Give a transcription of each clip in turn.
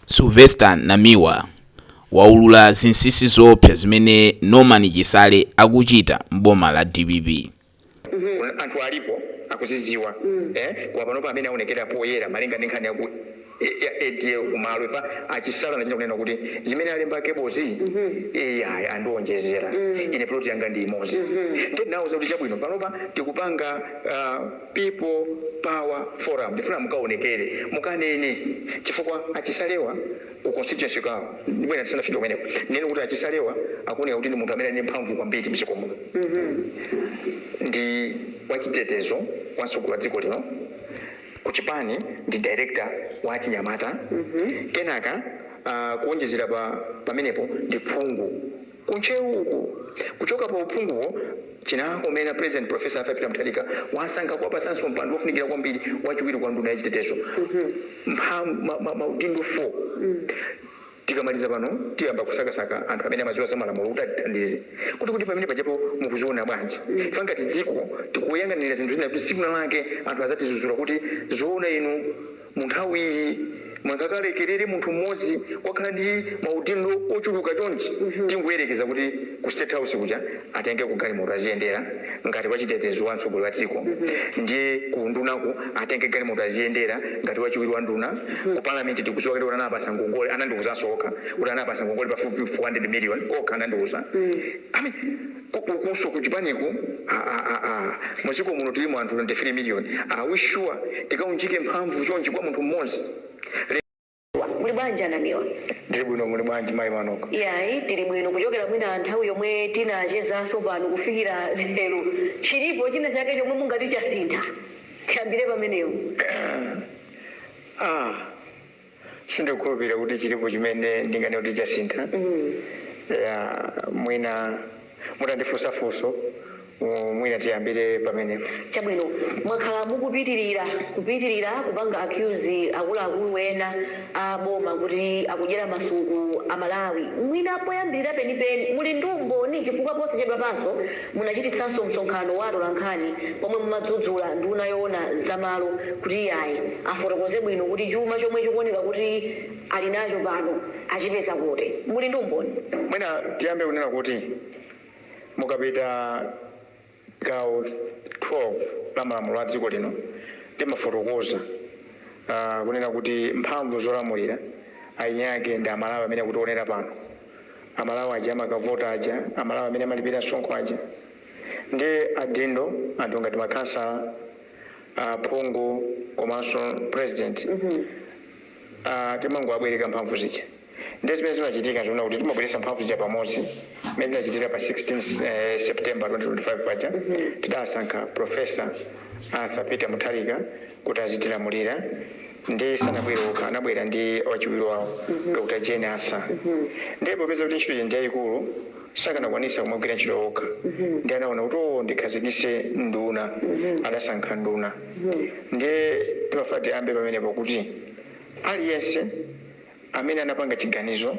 Sylvester Namiwa waulula zinsinsi zoopsa zimene Norman Chisale akuchita m'boma la dpp. anthu alipo akuzidziwa eh koma panopa amene aonekera poyera malinga ndi nkhani ya ku ya ADL ku Malwi pa a Chisale anachita kunena kuti zimene alemba Cable zi iya andionjezera ine plot yanga ndi imodzi ndiye ndinawauza kuti chabwino panopa tikupanga ah, People power forum ndifuna mukaonekere mukanene chifukwa a Chisalewa ku constituency kwawo ndibwera ndisanafike kumeneko ndinene kuti a Chisalewa akuoneka kuti ndi munthu amene ali ndi mphamvu kwambiri mdziko muno ndi wachitetezo wa mtsogoleri wa dziko lino ku chipani ndi director wa achinyamata kenaka ah, kuonjezera pamenepo ndi phungu Ku Ntcheuko kuchoka pa uphunguwo chinakomera President Prof. Arthur Peter Mutharika wasankha kuwapatsanso mpando wofunikira kwambiri wachiwiri kwa nduna ya chitetezo mpha ma ma maudindo 4. Tikamaliza pano tiyamba kusakasaka anthu amene amadziwa za malamulo kuti atithandize kuti kodi pamene pajapo mukuziona bwanji chifukwa ngati dziko tikuyang'anira zinthu zina kuti tsiku lina lake anthu adzatidzudzula kuti zoona inu Munthawi iyi, munkalekerera munthu mmodzi kukhala ndi maudindo ochuluka chonchi. Tingoyerekeza kuti ku state house kuja atengeko galimoto aziyendera ngati wachitetezo wa mtsogoleri wa dziko, ndiye ku undunako atenge galimoto aziyendera ngati wachiwiri wa nduna, ku parliament tikudziwa kale kuti anawapatsa ngongole, anandiuzanso okha kuti anawapatsa ngongole pafupifupi 400 million okha anandiuza. Komanso ku chipaniko AAAA muziko muno tilimo anthu 23 million are we sure tikaunjike mphamvu chonchi kwa munthu mmozi. Muli bwanji a Namiwa? Ndili bwino muli bwanji mayi manok? Iyayi tili bwino kuchokera mwina nthawi yomwe tinachezaso pano kufikira lero chilipo china chake chomwe mungati chasintha? Tiyambire pamenepo. Emm. Aaa. sindikukhulupirira kuti chilipo chimene ndinganene kuti chasintha ya mwina mutandifunsa funso mu- mwina tiyambire pamenepo chabwino mwakhala mukupitirira kupitirira kupanga accuse akuluakulu ena a boma kuti akudyera masuku amalawi mwina poyambirira penipeni muli ndi umboni chifukwa posachedwa panso Munachititsanso msonkhano wa atolankhani pomwe mumadzudzula nduna yoona za malo kuti iyayi afotokoze bwino kuti chuma chomwe chikuoneka kuti ali nacho pano achipeza kuti. Muli ndi umboni? Mwina tiyambe kunena kuti mukapita gawo 12 la malamulo a dziko lino limafotokoza kunena kuti mphamvu zolamulira eni ake ndi Amalawi amene akutionera pano. amalawi aja amakavota aja amalawi amene amalipira msonkho aja ndi adindo anthu ngati makhansala aphungu komanso president Ah, timangowabwereka mphamvu zija ndi zimene zimachitika zonena kuti timabweretsa mphamvu zija pamodzi mmene tinachitira pa 16 eh, september 2025 paja tidasankha profesa arthur peter mutharika kuti azitilamulira nde sanabwere okha anabwera ndi wachiwiri wawo Dr Jane Ansah nde popeza kuti ntchito ija ndi yayikulu sakanakwanisa kumagwira ntchito okha nde anaona kuti oo ndikhazikise nduna adasankha nduna nde timafuna tiyambe pamenepo kuti aliyense amene anapanga chiganizo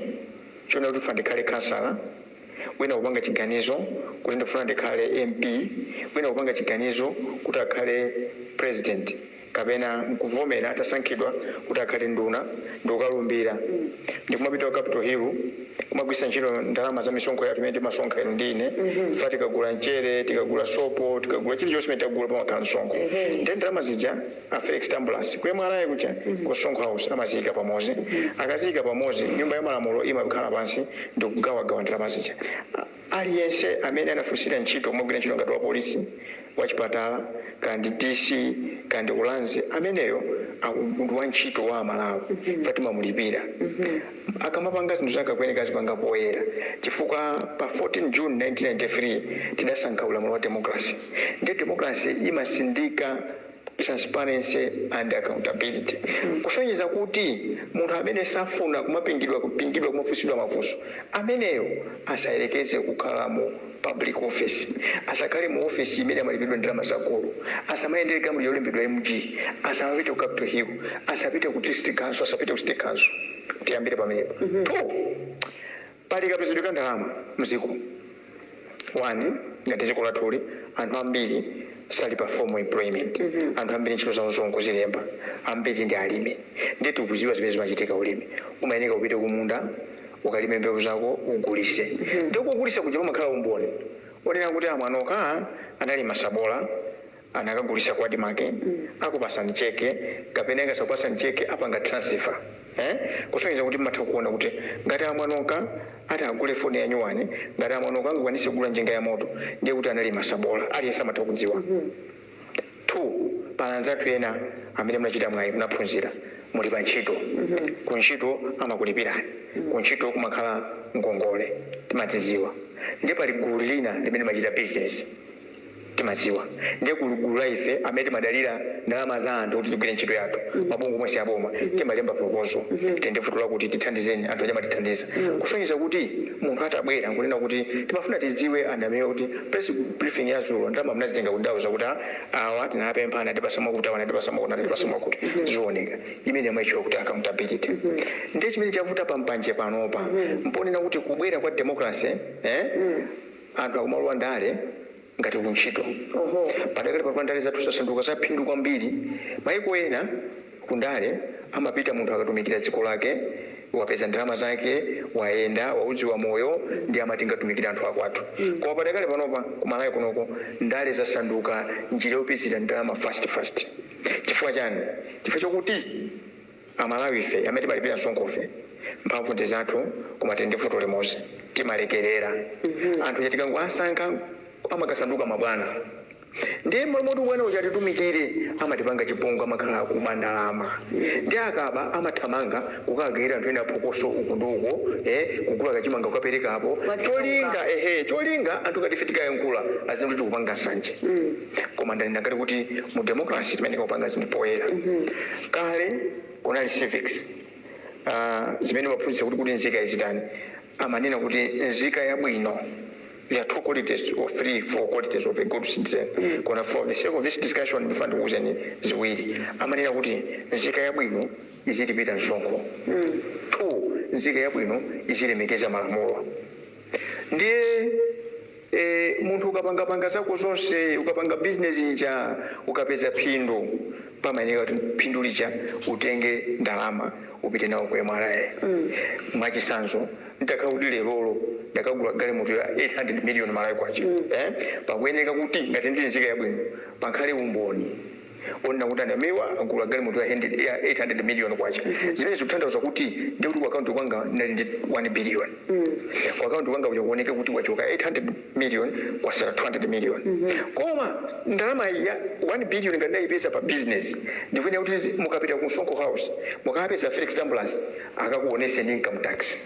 chonena kuti ndifuna ndikhale khansala, wina kupanga chiganizo kuti ndifuna ndikhale MP, wina kupanga chiganizo kuti akhale president kapena kuvomera atasankhidwa kuti akhale nduna ndikukalumbira ndikumapita ku capital hill kumagwiritsa ntchito ndalama za misonkho yathu imene timasonkha inu ndi ine chifukwa tikagula mchere, tikagula sopo, tikagula chilichonse chimene tikagula pamakhala msonkho ndiye ndalama zija. a felix tambulasi ku mra kuja ku msonkho house amaziyika pamozi akaziyika pamozi nyumba ya malamulo imakhala pansi ndikugawagawa ndalama zija A- aliyense amene anafunsira ntchito kumagwira ntchito ngati wa polisi wachipatala kaya ndi dc kaya ndi ulangizi ameneyo aku- ndi wa ntchito wa amalawi chifukwa timamulipira akamapanga zinthu zake akuyeneka azipanga poyera chifukwa pa 14 june 1993 tidasankha ulamuliro wa democracy nde democracy imatsindika transparency and accountability kusonyeza kuti munthu amene safuna kumapingidwa kupingidwa kumafunsidwa mafunso ameneyo asayerekeze kukhala mu public office asakhale mu office imene amalipidwa ndalama za gulu asamayendere galimoto yolembedwa mg asamapite ku capital hill asapite ku district council asapite ku city council tiyambire pamenepo two Pali kapezedwe ka ndalama mdziko. One ngati dziko lathuli anthu ambiri Sali pa formal employment. Anthu ambiri ntchito zawo nzongozilemba. Ambiri ndi alimi. Ndiye tikuziwa zimene zimachitika ulimi. Umayeneka upite kumunda ukalime mbewu zako ugulise. Ndiye kogulisa kuja pamakhala umboni onena kuti a Mwanoka analima sabola. anakagulisa kwa admarc akupasani cheke kapena ngati sakupasani cheke apanga transfer ee kusonyeza kuti mmatha kuona kuti ngati a Mwanoka ati agule foni yanyuwani ngati a Mwanoka angakwanise kugula njinga yamoto ndiye kuti analima sabola aliyense amatha kudziwa 2 pali anzathu ena amene munachita mwayi munaphunzira muli pa ntchito ku ntchito amakulipirani ku ntchito kumakhala ngongole timadziziwa ndiye pali gulu lina limene limachita business timadziwa ndiye gulu la ife amene timadalira ndalama za anthu kuti tigwire ntchito yathu mabungwe omwe si aboma timalemba proposal tili ndi vuto lakuti tithandizeni anthu aja amatithandiza kusonyeza kuti munthu atabwera nkunena kuti timafuna tidziwe anthu amene kuti press briefing ya dzulo ndalama mnazitenga kuti ndauza kuti "Ah, awa tinawapempha anatipasa mwakuti awa anatipasa mwakuti anatipasa mwakuti zioneka imene amaitchula kuti accountability ndiye chimene chavuta pambanje panopa mponena kuti kubwera kwa democracy eh anthu akumalowa ndale ngati ku ntchito. Padakali panopa ndale zathu zasanduka za phindu kwambiri. Maiko ena ku ndale amapita munthu akatumikira dziko lake, wapeza ndalama zake, wayenda, waudziwa moyo ndiye amati ndikatumikire anthu akwathu. Koma padakali panopa ku Malawi kunoko ndale zasanduka njira yopezera ndalama fast fast. Chifukwa chani? Chifukwa chokuti. Amalawife amene timalipira msonkhofe, mphamvu ndi zathu koma tili ndi vuto limodzi, timalekerera. Anthu aja tikangowasankha amakasanduka mabwana ndiye m'malo moti ubwana uja atitumikire amatipanga chipongwe amakhala kuba ndalama ndiye akaba amathamanga kukawagawira anthu ena phokoso uku ndi uko eh, kugula kachimanga kukaperekapo Mwachita cholinga kukaba. ehe, cholinga anthu ngati ife tikayankhula aziti tikupanga nsanje. koma ndanena kale kuti mu democracy timayeneka kupanga zinthu poyera kale kunali civics Ah, zimene amaphunzitsa kuti nzika izitani amanena kuti nzika yabwino there are two qualities or three four qualities of a good citizen koma for the sake of this discussion ndifuna ndikuuzeni ziwiri amanena kuti nzika yabwino izilipira msonkho two nzika yabwino izilemekeza malamulo ndiye e, munthu ukapangapanga zako zonse ukapanga bizinesi ija ukapeza phindu pamayeneka kuti phindu lija utenge ndalama upite nawo kwa mra mwachitsanzo nditakhala kuti lerolo ndakagula galimoto ya 800 million malawi kwacha eh? pakuyeneka kuti ngati ndi nzika yabwino pakhale umboni onena kuti a Namiwa agula galimoto ya hundred ya 800 million kwacha zimene zikutanthauza kuti ndi kuti ku akaunti kwanga ndinali ndi 1 billion ku akaunti kwanga kuja kuoneke kuti kwachoka 800 million kwatsala 200 million koma ndalama ya 1 billion ngati ndayipeza pa business ndikuyenera kuti mukapita ku msonkho house mukapeza felix tambulasi akakuoneseni income tax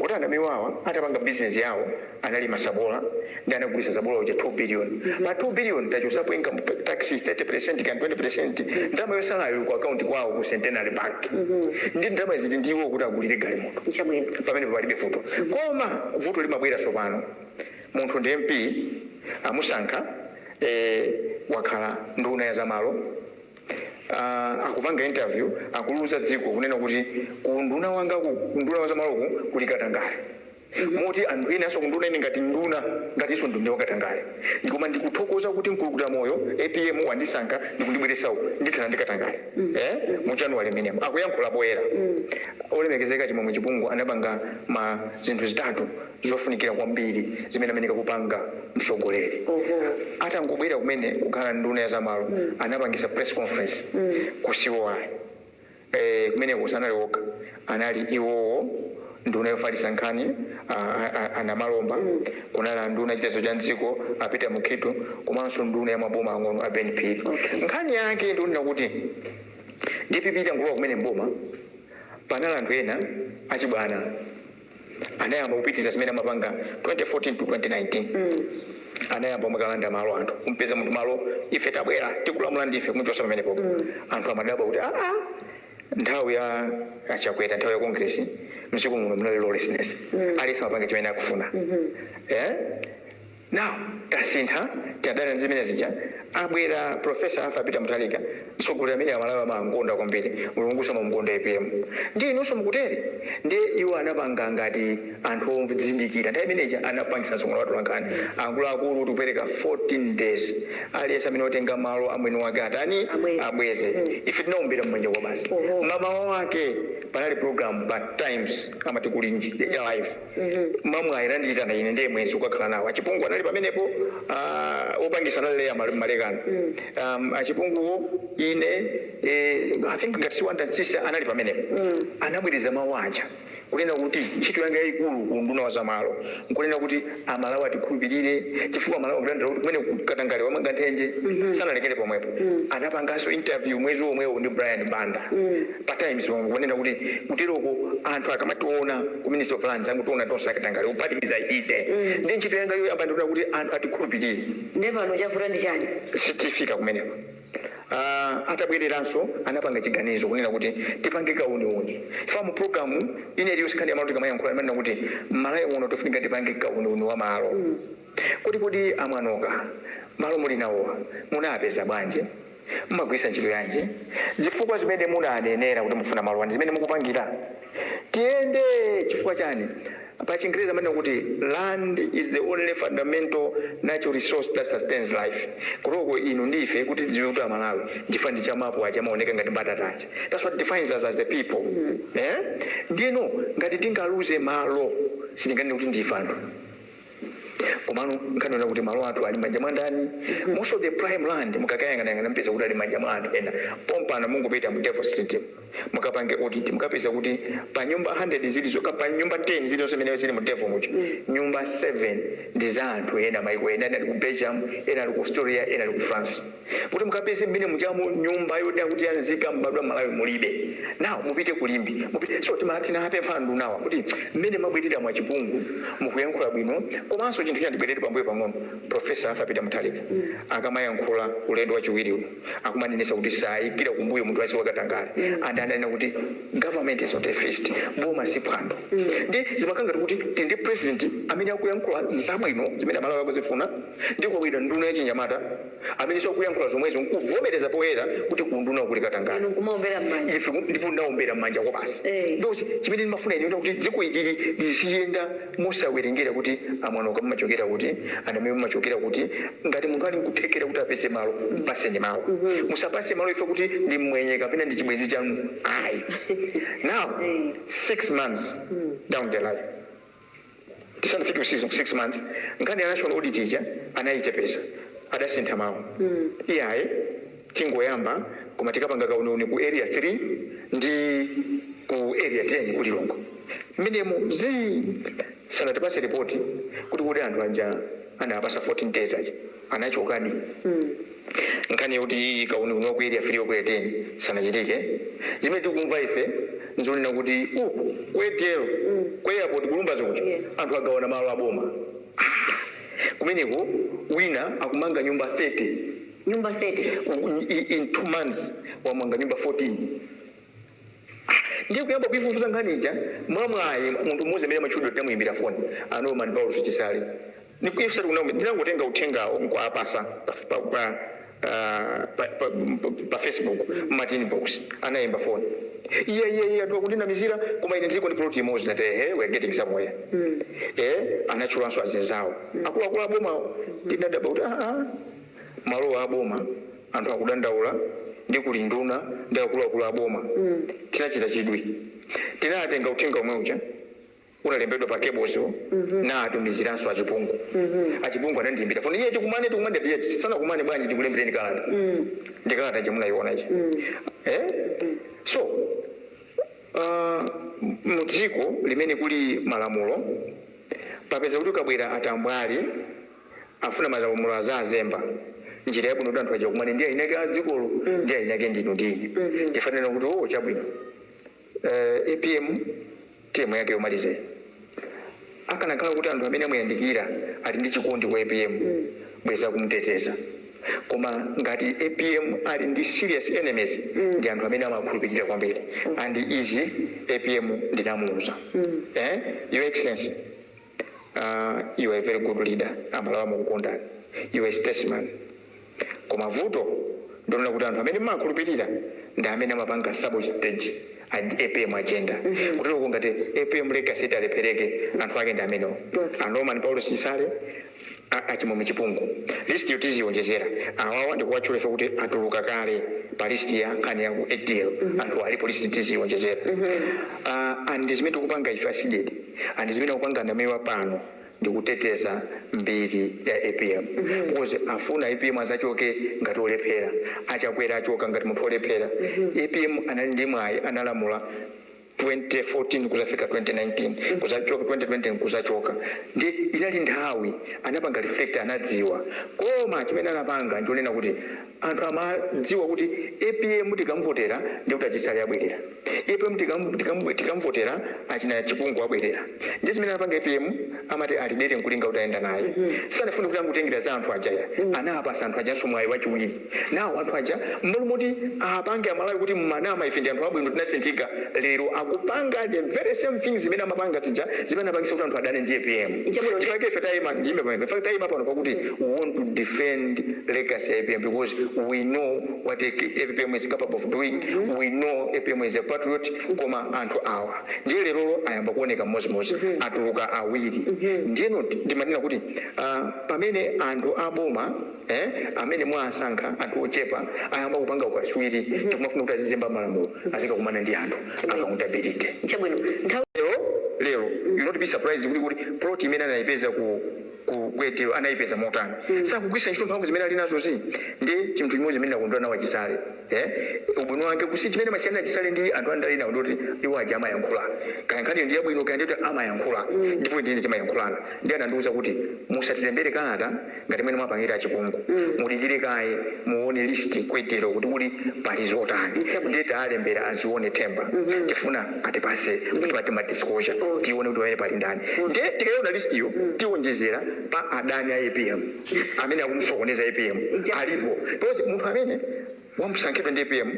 kuti a Namiwawa atapanga business yawo analima sabola ndi anagulitsa sabola uja 2 billion pa 2 billion tachotsapo income tax 30% kaya 20% ndalama yotsalayo ili ku account kwawo ku centenary bank ndi ndalama izi ndi iwo kuti agulire galimoto Chabwino. pamene palibe vuto koma vuto limabwera tsopano munthu ndi mp amusankha eh, wakhala nduna ya zamalo uh, akupanga interview akuliuza dziko kunena kuti ku unduna wanga ku ku unduna wa zamaloku kuli katangale moti anthu enanso kunduona ine ngati nduna ngatinso nduna wakatangale ndikoma ndikuthokoza kuti mkulukutamoyo apm wandisankha ndikundibweretsa uku ndithana ndi katangale eh mu January momwemo akuyankhula poyera olemekezeka chimwemwe chipungu anapanga ma zinthu zitatu zofunikira kwambiri zimene amayeneka kupanga mtsogoleri atangobwera kumene kukhala nduna ya zamalo anapangisa press conference ku COI Eee, kumeneko sanali okha, anali iwowo, nduna yofalitsa nkhani a, a, a, a Namalomba, kunali nduna yachitetezo cha m'dziko a Peter Mukhitho komanso nduna ya maboma ang'ono a Ben Phiri. Nkhani yake ndi yonena kuti dpp itangolowa kumene m'boma, panali anthu ena achibwana. anayamba kupitiriza zimene amapanga 2014 to 2019 anayamba kumakalanda malo anthu kumpeza munthu malo ife tabwera tikulamula ndife kumuchosa pamenepo anthu amadabwa kuti aa nthawi ya achakwera nthawi ya kongresi mdziko muno munali lawlessness aliyense amapanga chimene akufuna eh Now tasintha tadana ndi zimene zija abwera Prof Arthur Peter Mutharika mtsogoleri amene amalawi amamkonda kwambiri mulungunso amamkonda apm ndiye inunso mukutere ndiye iwo anapanga ngati anthu odzindikira nthawi imene ija anapangisa msonkhano wa atolankhani akuluakulu kuti kupereka 14 days aliyense amene watenga malo a mwini wake atani Abweze. abweze ife tinaombera mmanja kuti basi Oho. mmawa wake panali program pa times amati kulinji ya live mwamwayi anandiitana ine ndiye mwezi kukakhala nawo achipungu anali pamenepo ah, opangisa anali Leah Mal- Malekano um, achipunguwo ine eh, i think ngati si Wonder Msiska anali pamenepo anabwereza mawu aja kunena kuti ntchito yanga yayikulu ku unduna wa zamalo nkunena kuti amalawi atikhulupirire chifukwa amalawi akudandaula kuti kumene katangale wamanga nthenje sanalekere pomwepo anapanganso interview mwezi womwewo ndi brian banda pa times wamva kunena kuti kuteroko anthu akamationa ku ministry of lands amangotiona tonse akatangale kuphatikiza ine ndi ntchito yanga yoyamba ndikuona kuti anthu atikhulupirire nde pano chavuta ndi chani tifika kumeneko Ah, atabwereranso anapanga chiganizo kunena kuti tipange kauniuni ife mu programu ino iliyonse nkhani yamalo tikamayankhula timanena kuti mmalawi muno tofunika tipange kauniuni wa malo Kodi kodi a Mwanoka, malo muli nawowa munaapeza bwanji? Mmagwiritsa ntchito yanji? Zifukwa zimene munaanenera kuti mufuna malowa ndi zimene mukupangira? Tiyende! Chifukwa chani? Pa chingerezi amanena kuti land is the only fundamental natural resource that sustains life. Kuteroko inu ndi ife kuti tidziwe kuti a Malawi ndife ndi chamapu aja amaoneka ngati mbatata aja. That's what defines us as a people. Eeh? Ndiyeno ngati tingaluze malo sitinganene kuti ndife anthu. komano nkhani yonena kuti malo athu ali manja mwa ndani most of the prime land mukakayang'anayang'ana mupeza kuti ali manja mwa anthu ena pompano mungopita mu devil street mukapange audit mukapeza kuti pa nyumba 100 zilizo pa nyumba 10 zilizonse zimene zili mu devil mujamo nyumba 7 ndi za anthu ena maiko ena ena ali ku belgium ena ali ku australia ena ali ku france Kuti mukapeze mmene mujamo nyumba yonena kuti ya nzika mbadwa Malawi mulibe. Now mupite ku Limbe, mupite. So timati tinawapempha andunawa kuti mmene mwabwerera a Chipungu mukuyankhula bwino komanso chinthu china tibwerere pambuyo pang'ono Professor Arthur Peter Mutharika akamayankhula ulendo wachiwiriwu akumanenetsa kuti saikira kumbuyo munthu aliyense wakatangale and ananena kuti Government is not a feast, boma si phwando. Ndiye zimakhala ngati kuti tili ndi President amene akuyankhula zabwino zimene Amalawi akuzifuna. Ndiye kwabwera nduna yachinyamata amenenso akuyankhula zomwezo nkuvomereza poyera kuti kuundunawu kuli katangale. Inu nkumaombera mmanja. Ife ku ndipo ndinaombera mmanja kwabasi. Eeh. Ndiye chimene ndimafuna ine kuti dziko ili liziyenda mosawerengera kuti a Mwanaoka mumachokera kuti, a Namiwa mumachokera kuti. Ngati munthu ali nkuthekera kuti apeze malo, apaseni malo. Musapase malo chifukwa kuti ndi mmwenye kapena ndi chibwenzi chanu ayi. Now Eeh. six months down the line. tisanafike pa six months nkhani ya national audit ija anayichepesa adasintha mawu iyayi tingoyamba koma tikapanga kauniuni ku area 3 ndi ku area 10 ku lilongwe mmenemo zii sanatipase ripoti kuti kuti anthu aja anawapasa 14 days aja anachokadi nkhani yoti kauniuni wa ku area 3 ndi ku area 10 sanachitike zimene tikumva ife nzonena kuti ku adl ku airport ku lumbadzi kuja anthu agawana malo a boma aah kumeneko wina akumanga nyumba 30 nyumba 30 in 2 months wamanga nyumba 14. Ndiye kuyamba kuifufuza nkhani ija, mwamwayi munthu mmodzi amene amatchulidwa tinamuimbira foni, a Norman Paulos Chisale. Ife sitikunama, ndinangotenga uthengawo n'kuwapatsa pa, pa, pa, ah, pa, pa, pa Facebook, amati inbox, anaimba foni. Iyayi, iyayi, anthu akundinamizira, koma ine ndiliko ndi plot imodzi, ndinati, ehe, we are getting somewhere. Eh, anatchulanso azinzawo, akuluakulu a bomawo, ndinadabwa kuti, ah, ah. malowa a boma anthu akudandaula ndi kuli nduna ndi akuluakulu a boma tinachita chidwi tinatenga uthenga omwe uja unalembedwa pa cables wo ndinaatumiziranso a chipungu a chipungu anandiimbira foni iye tikumane tikumane ndati iyayi tisanakumane bwanji ndikulembereni kalata ndi kalata ija munaiona ija eh so ah, m- mu dziko limene kuli malamulo popeza kuti kukabwera atambwali afuna malamulo azazemba njira yabwino kuti anthu aja kumane ndi eniake a dzikolo ndiye eniake ndinu ndi ine ndifanira kuti oo chabwino eh, apm term yake yomaliza akanakhala kuti anthu amene amuyandikira ali ndi chikondi kwa apm bweza kumteteza koma ngati apm ali ndi serious enemies ndi anthu amene amakhulupirira kwambiri and izi apm ndinamuuza eh? your excellency Aaa you are a very good leader amalawi amakukondani you are a statesman koma vuto ndilonena kuti anthu amene mmawakhulupilira ndi amene amapanga sabotage ad apm agenda kuteroko ngati apm legacy italephereka anthu ake ndi amenewo a norman paulos chisale, A Achimwemwe Chipungu, List yo tiziwonjezera, awawa ndikuwatchula chifukwa choti atuluka kale pa list ya nkhani ya ku ADL, anthuwa alipo list tizionjezera uh and ndi zimene tikupanga ife a Cdedi and zimene akupanga Namiwa pano ndi kuteteza mbiri ya apm because afuna apm azachoke ngati olephera, a Chakwera achoka ngati munthu olephera, apm anali ndi mwayi analamula. 2014 kuzafika 2019 kuzachoka 2020 kuzachoka nde inali nthawi anapanga reflect anadziwa koma chimene anapanga nchonena kuti anthu amadziwa kuti apm tikamuvotera ndekuti a Chisale abwerera apm tikamuvotera achina Chipungu abwerera nde zimene anapanga apm amati walira mvula nkulinga utayenda naye sanafune kuti angotengera za anthu aja ya anapasa anthu ajanso mwayi wachiwiri Now anthu aja mmalo moti apange shame amalawi kuti mumanama ife ndi anthu abwino tinasinthika lero akupanga the very same things zimene amapanga zija zimene anapangisa kuti anthu adane ndi apm Chabwino ndi chifukwa chake ife taima ndiime pamenepa chifukwa taima pano pakuti we want to defend legacy ya apm because we know what apm is capable of doing we know apm is a patriot koma anthu awa ndiye lerolo ayamba kuoneka mmozimozi atuluka awiri ndiye not ndimanena kuti ah, pamene anthu aboma Eeh amene mwaasankha anthu ochepa ayamba kupanga ukaswiri ndikumafuna kuti azizemba malamulo azikakumana ndi anthu a accountability nchabwino nthawi. Lero lero you'll not be surprised kuti kuti plot imene anaipeza ku ku Kayelekera anaipeza motani sakugwiritsa ntchito mphamvu zimene alinazozi ndiye chinthu chimodzi chimene ndakondwera nawo a Chisale. Eh? Ubwino wake kuti chimene amasiyana Chisale ndi anthu andale nawo nchoti iwo aja amayankhula. Kaya nkhani ndi yabwino kaya ndiyoti amayankhula. Ndipo ndine timayankhulana. Ndiye anandiuza kuti musatilembere kalata ngati mmene mwapangira a Chipungu. Mudikire kaye muone list kwetero kuti kuli pali zotani. Ndiye taalembera a Zione Ntaba. Tifuna atipase kuti pati ma disclosure. Tione kuti pamene pali ndani. Ndiye tikaona list yo tionjezera pa adani a APM. amene akumusokoneza apm alipo because munthu amene wamusankhidwa ndi apm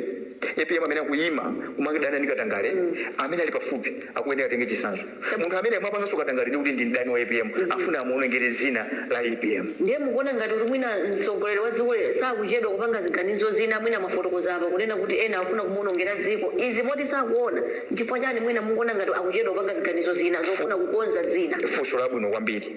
apm amene akuyima kumakadana ndi katangale amene ali pafupi akuyenera atenge chitsanzo munthu amene mwapanganso katangale ndi kuti ndi mdani wa apm afuna amuonongere zina la apm Ndiye mukuona ngati kuti mwina mtsogoleri wa dziko lino sakuchedwa kupanga ziganizo zina mwina mwafotokoza apa kunena kuti ena akufuna kumuonongera dziko izi moti sakuona nchifukwa chani mwina mukuona ngati akuchedwa kupanga ziganizo zina zofuna kukonza dzina funso labwino kwambiri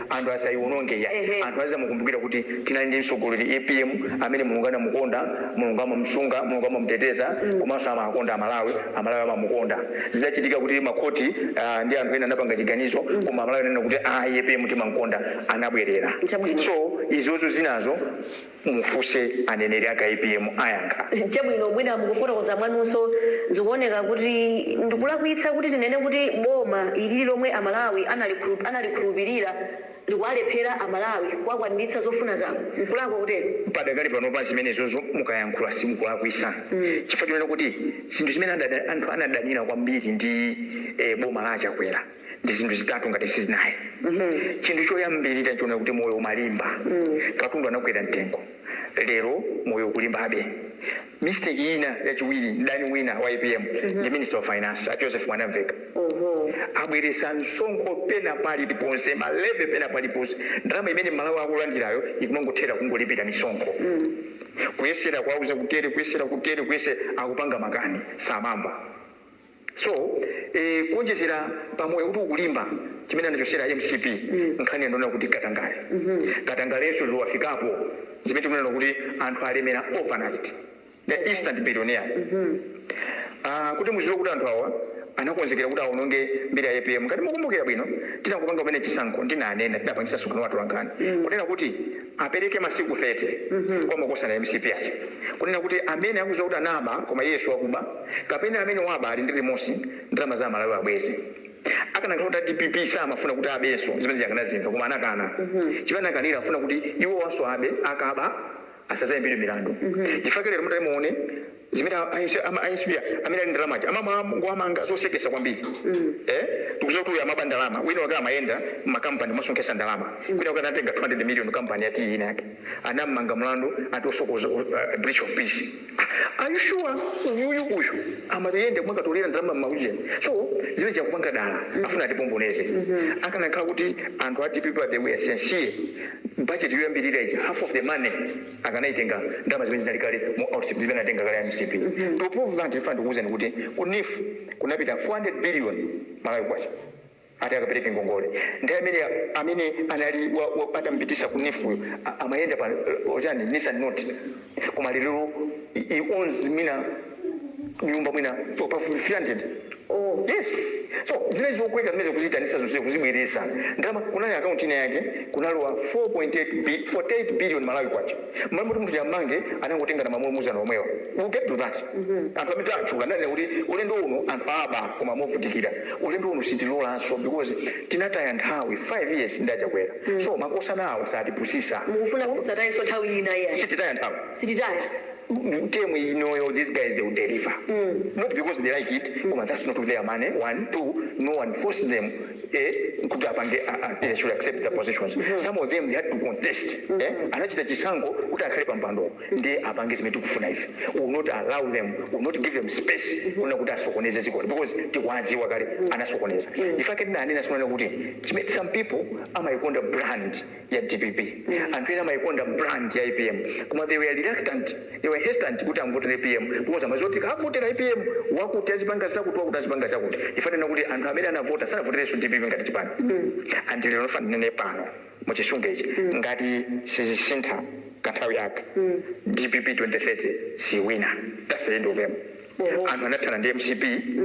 Anthu asaiwononge iyayi. Ehe. Anthu azamukumbukira kuti tinali ndi mtsogoleri apm amene Mulungu anamukonda, Mulungu amamusunga, Mulungu amamuteteza komanso amawakonda aMalawi, aMalawi amamukonda. Zidachitika kuti makhoti aah ndi anthu ena anapanga chiganizo koma aMalawi ananena kuti ayi apm timamkonda anabwerera. Chabwino. So izozo zinazo. mufuse aneneri ake apm ayankha. Chabwino mwina mukufotokoza mwanunso zikuoneka kuti ndikulakwitsa kuti tinene kuti boma ili lomwe amalawi analikhulupilira likuwalephera amalawi kuwakwaniritsa zofuna zawo nkulakwa kutero? Padakali panopa zimenezozo mukayankhula simukulakwisa chifukwa chonena kuti zinthu zimene anthu anadanila kwambiri ndi boma la a Chakwera. ndi zinthu zitatu ngati sizinayi chinthu choyambirira nchonena kuti moyo umalimba katundu anakwera mtengo lero moyo ukulimbabe mistake ina yachiwiri mdani wina wa apm ndi minister of finance a joseph mwanamveka abweresa msonkho pena paliponse ma levy pena paliponse ndalama imene mmalawi akulandirayo ikumangothera kungolipira misonkho kuyesera kuwauza kutere kuyesera kutere kuyesera akupanga makani samamva So eh, kuonjezera pa moyo kuti ukulimba chimene anachosera mcp nkhani ndi yoona kuti katangale katangalenso liwafikapo zimene tikunena kuti anthu alemera overnight the instant billionaire Ah, kuti muziwe kuti anthu awa anakonzekera kuti aononge mbiri ya apm ngati mukumbukira bwino titangopanga kumene chisankho ndinanena tidapangisa msonkhano wa atolankhani kunena kuti apereke masiku 30 kwa makosana ya mcp aja kunena kuti amene akuziwa kuti anaba koma iyeyo wakuba kapena amene waba ali ndi remorse ndalama za aMalawi abweze akanakhala kuti a dpp samafuna kuti abenso zimenezi akanazimva koma anakana chimene anakanira afuna kuti iwowanso abe akaba asazaimbidwe milandu chifukwa lero mutati muone zimene a- a- ama- a mcp amene ali ndalama aja amangowamanga zosekesa kwambiri eh tikuziwa kuti uyu amaba ndalama wina wake amayenda makampani kumasonkesa ndalama wina wake anatenga 200 million kampani ya tiyi inake anammanga mlandu ati osokoza uh, breach of peace Are you sure uyuyu uyu amayenda kumakatolera ndalama m'maujeni so zija akupanga dala afuna atipomboneze akanakhala kuti anthu a dpp they were sincere budget yoyambirira ija half of the money akanaitenga ndalama zimene zinali kale mu outset zimene anatenga kale a mcp to prove that ife ndikuwuzani kuti ku nif kunapita 400 billion malawi kwacha ati akapereke ngongole. Nthawi imeneyo amene anali wa, wa, atamupitisa ku NEEF uyo a- amayenda pa uh, chani Nissan Note koma lero he he owns mwina nyumba mwina pa- pafupi 300 Oh. yes so zinali zokweka zimene kuzitanisa zonse kuzibweresa ndalama kunali akaunti ina yake kunalowa 4.8 bi- 48 billion malawi kwacha mmalo moti munthu uja ammange anangotengana mamulumuzana omwewa we'll get to that anthu amene tatchula ananena kuti ulendo uno anthu aba koma movutikira ulendo uno sitilolanso because tinataya nthawi 5 years ndi achakwera so makosanawo satipusisa mukufuna kuti tisatayenso nthawi ina iya sititaya nthawi sititaya term inoyo these guys they will deliver not because they like it koma that's not their money one two no one forced them eh, kuti apange a- a- they should accept their positions some of them they had to contest eh, anachita chisankho kuti akhale pampando ndiye apange zimene tikufuna ife We will not allow them we will not give them space kuna kuti asokoneze dzikoli because tikuwadziwa kale anasokoneza ndifake ndinanena simanena kuti chime- some people amayikonda brand ya dpp anthu ena amayikonda brand ya apm koma they were reluctant they were hesitant kuti amvotele apm because amaziwa kuti tikavotela apm wakuti azipanga zakuti wakuti azipanga zakuti ife tinanena kuti anthu amene anavota sanavotelenso dpp ngati chipani and lero ndifuna ndinene pano muchisunge ichi ngati sizisintha kanthawi aka dpp 2030 siwina that's the end of them anthu anathana ndi mcp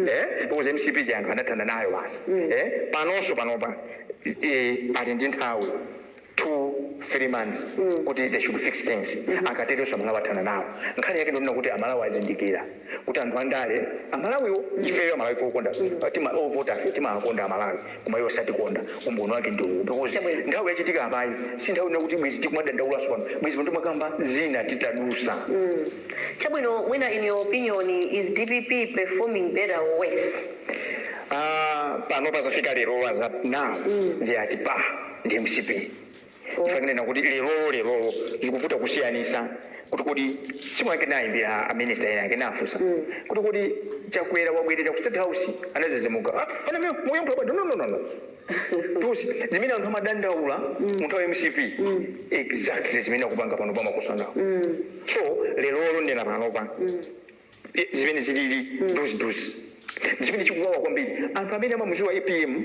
eh, because mcp ndiye anthu anathana nayo basi eh, panonso panopa eh, ali ndi nthawi two three months kuti they should fix things akateronso amalawi athana nawo nkhani yake ndonena kuti amalawi azindikira kuti anthu andale amalawiwo ifeyo amalawi pokonda tima ovota timakonda amalawi koma iwo satikonda umboni wake ndi uwu because nthawi yachitika apayi si nthawi ina kuti bwezi tikumadandaulaso pano bwezi pano timakamba zina titadusa Chabwino mwina in your opinion is dpp performing better or worse? Ah, panopa zafika lero as of now they are at par ndi mcp fanena kuti lerolo lerolo zikuvuta kusiyanisa kuti kodi simu yake nayimbira aminista ena ake nafusa kuti kodi chakwera wabwerera ku state house anazizimuka ah, ana mwe- muyankho yabwino no no no no those zimene anthu amadandaula munthawi ya mcp exactly zimene akupanga panopa makosanawo so lero olo ndinena panopa e, zimene zilili duzi duzi chimene chikuwawa kwambiri anthu amene amamuziwa apm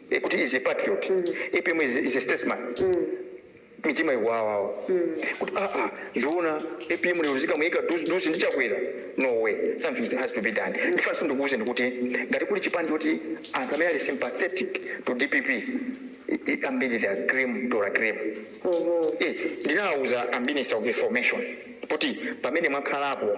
eh, kuti is a patriot apm is, is a statesman mitima ikuwawawa kuti aa zoona apm lero zikamuika duzi duzi ndi chakwera no way something has to be done ndifunanso ndikuwuzeni kuti ngati kuli chipani choti anthu amene ali sympathetic to dpp i- i- ambiri they are cream de la cream Eh, ndinawawuza a minister of information kuti pamene mwakhalapo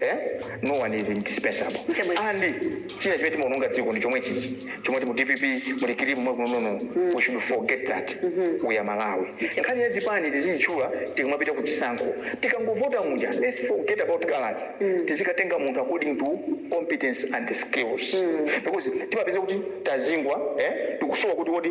Eh? No one is indispensable. Chabwino. And china chimene timaonongera dziko ndi chomwechi chichi chomwe ti mu DPP muli kili mwe kunono. We should forget that. We are Malawi. Nkhani ya zipani tizitchula tikamapita ku chisankho. Tikangovota muja let's forget about colors. Tizikatenga munthu according to competence and skills. Because timapeza kuti tazingwa eh tikusowa kutiwo di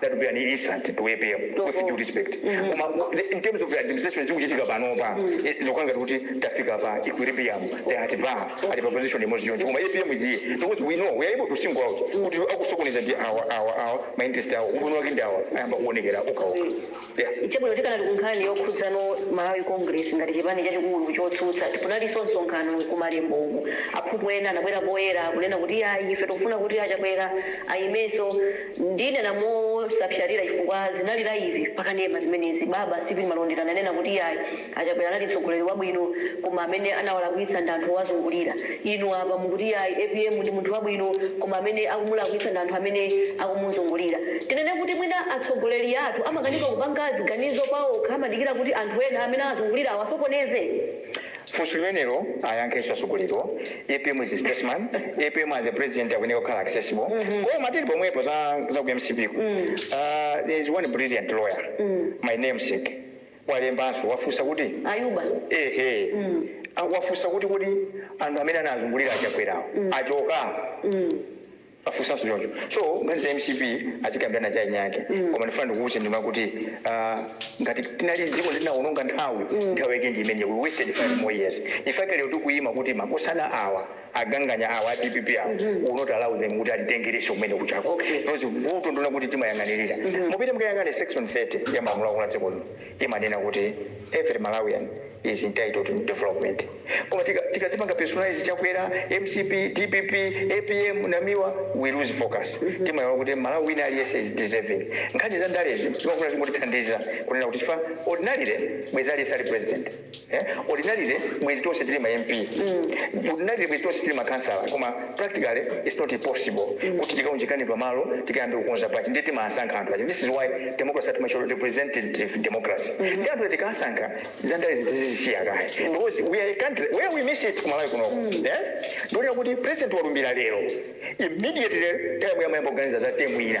that would be an insult to APM with due respect koma the- in terms of the administration zikuchitika panopa eh, zokanga kuti tafika pa equilibrium they are at par at a position imodzi yomweyo koma APM is here because we know we are able to single out kuti akusokoneza ndi awa awa awa ma interest awo umboni wake ndi awa ayamba kuonekera okha okha Chabwino, tikanali ku nkhani yokhudzana Malawi Congress ngati chipani chachikulu chotsutsa, kunalinso msonkhano ku Malembo uku aphungu ena anabwera poyera kunena kuti iyayi ife tikufuna kuti a Chakwera aimenso. Ndinena mosapsatira chifukwa zinali laivi pa kanema zimenezi. Baba Steven Malondera ananena kuti iyayi. A Chakwera anali mtsogoleri wabwino koma amene anawalakwitsa ndi anthu owazungulira. Inu apa mukuti yayi apm ndi munthu wabwino koma amene akumulakwitsa ndi anthu amene akumuzungulira. Tinene kuti mwina atsogoleri athu amakanika kupanga ziganizo paokha amadikira kuti anthu ena amene awazungulira awasokoneze? Funso limenelo ayankhenso atsogoleriwo. Apm is a statesman. Apm as a president akuyeneka kukhala accessible. Koma tili pomwepo za za ku mcp ku, there is one brilliant lawyer, my namesake, walembanso, wafunsa kuti Ayuba ehe mm. wafunsa kuti kodi anthu amene anazungulira a Chakwerawo mm. achoka mm. afunsanso choncho so nkhani za mcp azikambirana chani chake mm. koma ndifuna ndikuwuze ndimati kuti uh, ngati tinali dziko tinawononga nthawi mm. nthawi yake ndi imene we wasted five more years nchifukwa chake lero tikuyima kuti makosana awa aganganya awa a dpp awa we'll not allow them kuti atitengerenso kumene kujako Okay. because vuto ndi lonena kuti timayang'anirira mupite mukayang'ane section 30 ya malamulo aakulu a dziko lino imanena kuti every malawian is entitled to development koma tika- tikazipanga personalize chakwera mcp dpp apm namiwa we lose focus timaiwala kuti mmalawi wina aliyense is deserving nkhani za ndalezi zimapanga zingotithandiza kunena kuti chifukwa ordinarily bwezi aliyense ali president eh ordinarily bwezi tonse tili ma mp ordinarily bwezi tonse tili ma councillor koma practically it's not possible kuti tikaunjikane pamalo tikayambe kukonza bajeti ndiye timasankha anthu aja this is why democracy yathu imatchedwa representative democracy ndiye anthu tikasankha za ndalezi tizizisiya kaye because we are a country where we miss it kumalawi kunoko eh ndi ponena kuti president walumbira lero immediately timayamba kuganiza za term ina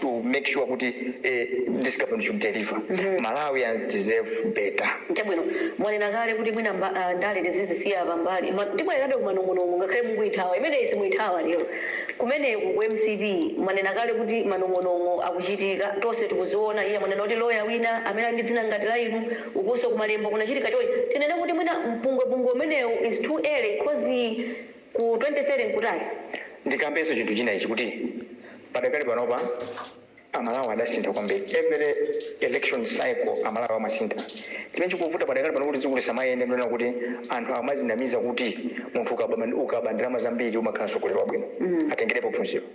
to make sure kuti eh this government should deliver Malawians deserve better. Chabwino, mwanena kale kuti mwina, ah, ndale tizizisiya pambali koma ndibwererabe ku manong'onong'o ngakhale mukuithawa imeneyi simuyithawa lero kumeneku ku mcp mwanena kale kuti manong'onong'o akuchitika tonse tikuziona iye mwanena kuti loya wina amene ali ndi dzina ngati la inu ukunso kumalembo kunachitika chonchi tinene kuti mwina mpungwepungwe umenewu is too early cause Ku 27 nkutali. Ndikambenso chinthu china ichi kuti padakali panopa a Malawi adasintha kwambiri. Every election cycle a Malawi amasintha. Chimene chikuvuta padakali pano kuti dziko lisamayende ndonena kuti anthu amadzinamiza kuti munthu ukaba ndalama zambiri umakhala mtsogoleri wabwino. Atengerepo phunziro.